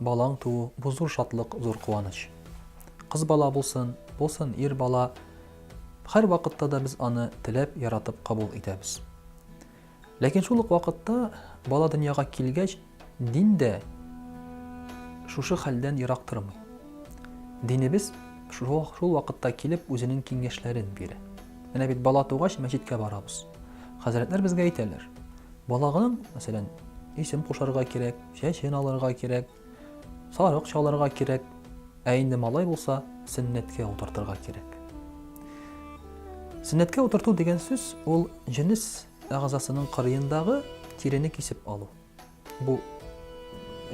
Балаң туу, бу зур шатлык, зур куаныч. Кыз бала булсын, булсын ир бала, һәрвакытта да без аны теләп, яратып кабул итәбез. Ләкин шул ук вакытта бала дөньяга килгәч, дин дә шушы хәлдән ерак тормый. Динебез шул, шул вакытта килеп үзенең киңәшләрен бирә. Менә бит бала тугач мәчеткә барабыз. Хәзрәтләр безгә әйтәләр. Балагының, мәсәлән, исем кушарга кирәк, Чәчен алырга кирәк, сарык чалырга кирәк, ә инде малай булса, сөннәткә утыртырга кирәк. Сөннәткә утырту дигән сүз ул җенес әгъзасының кырыендагы тирене кисеп алу. Бу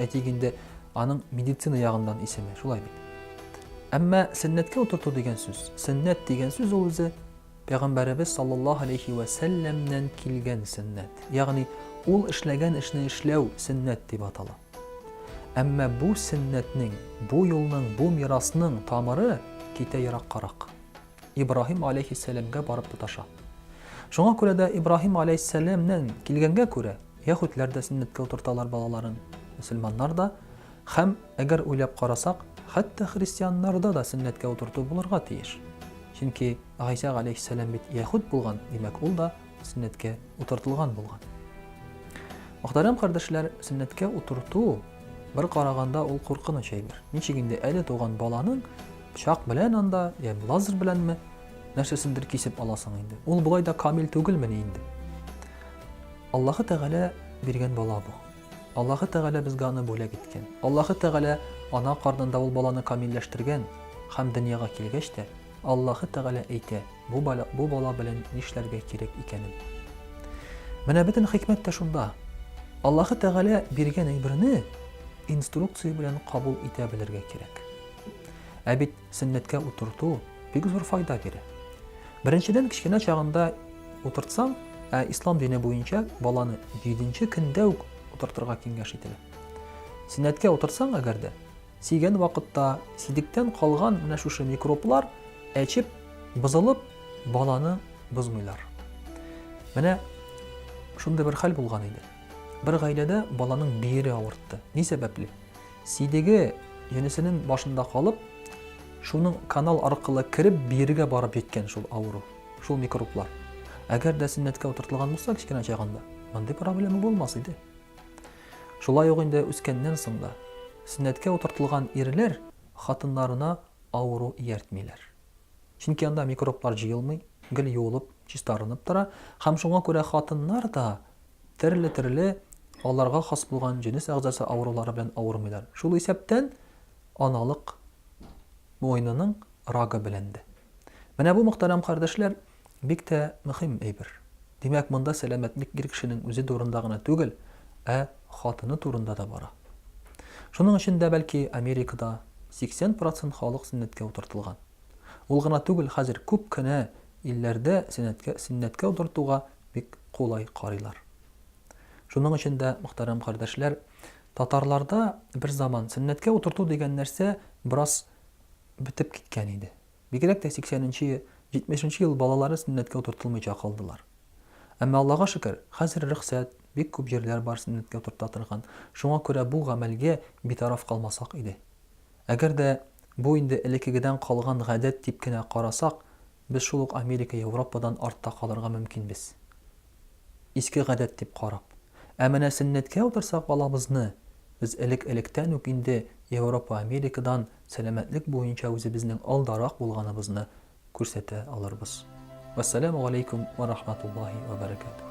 әйтик инде аның медицина ягыннан исеме, шулай бит. Әмма сөннәткә утырту дигән сүз, сөннәт дигән сүз ул үзе Пәйгамбәребез саллаллаһу алейһи вә сәлләмнән килгән сөннәт, ягъни ул эшләгән эшне эшләү сөннәт дип атала. Әмма бу сөннәтнең, бу юлның, бу мирасның тамыры китә ераккарак. Ибраһим алейһиссәламгә барып тоташа. Шуңа күрә дә Ибраһим алейһиссәламнән килгәнгә күрә, яһүдләр дә сөннәткә утырталар балаларын, мөселманнар да, Һәм, әгәр уйлап карасак, хәтта христианнарда да сөннәткә утырту булырга тиеш. Чөнки Гайсә галәйһиссәлам бит яһүд булган, димәк, ул да сөннәткә утыртылган булган. Мөхтәрәм кардәшләр, сөннәткә утырту бер караганда ул куркыныч әйбер. Ничек инде әле туган баланың пычак белән анда, я лазер беләнме, нәрсәсендер кисеп аласың инде. Ул болай да камил түгелмени инде. Аллаһы Тәгалә биргән бала бу. Аллаһы Тәгалә безгә аны бүләк иткән. Аллаһы Тәгалә ана карнында ул баланы камилләштергән һәм дөньяга килгәч тә, Аллаһы Тәгалә әйтә, бу бала, бу бала белән нишләргә кирәк икәнен. Менә бөтен хикмәт тә шунда. Аллаһы Тәгалә биргән әйберне инструкция белән кабул итә белергә кирәк. Ә бит Сөннәткә утырту бик зур файда бирә. Беренчедән, кечкенә чагында утыртсаң, ә ислам дине буенча баланы җиденче көндә үк утыртырга киңәш ителә. Сөннәткә утыртсаң, әгәр дә, сигән вакытта сидектән калган менә шушы микроблар әчеп, бозылып, баланы бозмыйлар. Менә шундый бер хәл булган иде. Бер гаиләдә баланың биере авыртты. Ни сәбәпле? Сидеге җенесенең башында калып, шуның канал аркылы кереп, бирегә барып җиткән шул авыру, шул микроблар. Әгәр дә сөннәткә утыртылган булса, кечкенә чагында, мондый проблема булмас иде. Шулай ук инде үскәннән соң да сөннәткә утыртылган ирләр хатыннарына авыру ияртмиләр. Чөнки анда микроблар җыелмый, гел юылып, чистарынып тора, һәм шуңа күрә хатыннар да Төрле-төрле аларга хас булган җенес әгъзасы авырулары белән авырмыйлар. Шул исәптән аналык муенының рагы белән дә. Менә бу, мөхтәрәм кардәшләр, бик тә мөхим әйбер. Димәк, монда сәламәтлек ир кешенең үзе турында гына түгел, ә хатыны турында да бара. Шуның өчен дә, бәлки, Америкада 80 процент халык сөннәткә утыртылган. Ул гына түгел, хәзер күп кенә илләрдә сөннәткә утыртуга бик кулай карыйлар. Шуның өчен дә, мөхтәрәм кардәшләр, татарларда бер заман сөннәткә утырту дигән нәрсә бераз бетеп киткән иде. Бигрәк тә 80 нче, 70 нче ел балалары сөннәткә утыртылмыйча калдылар. Әмма, Аллага шөкер, хәзер рөхсәт, бик күп җирләр бар сөннәткә утырта торган. Шуңа күрә бу гамәлгә битараф калмасак иде. Әгәр дә бу инде элеккегедән калган гадәт дип кенә карасак, Без шул ук Америка, Европадан артта калырга мөмкинбез. Иске гадәт дип карап. Ә менә сөннәткә утырсак балабызны, без элек-электән үк инде Европа, Америкадан сәламәтлек буенча үзебезнең алдарак булганыбызны күрсәтә алырбыз. Вәссәламү галәйкүм вә рахматуллаһи вә бәрәкәтүһ.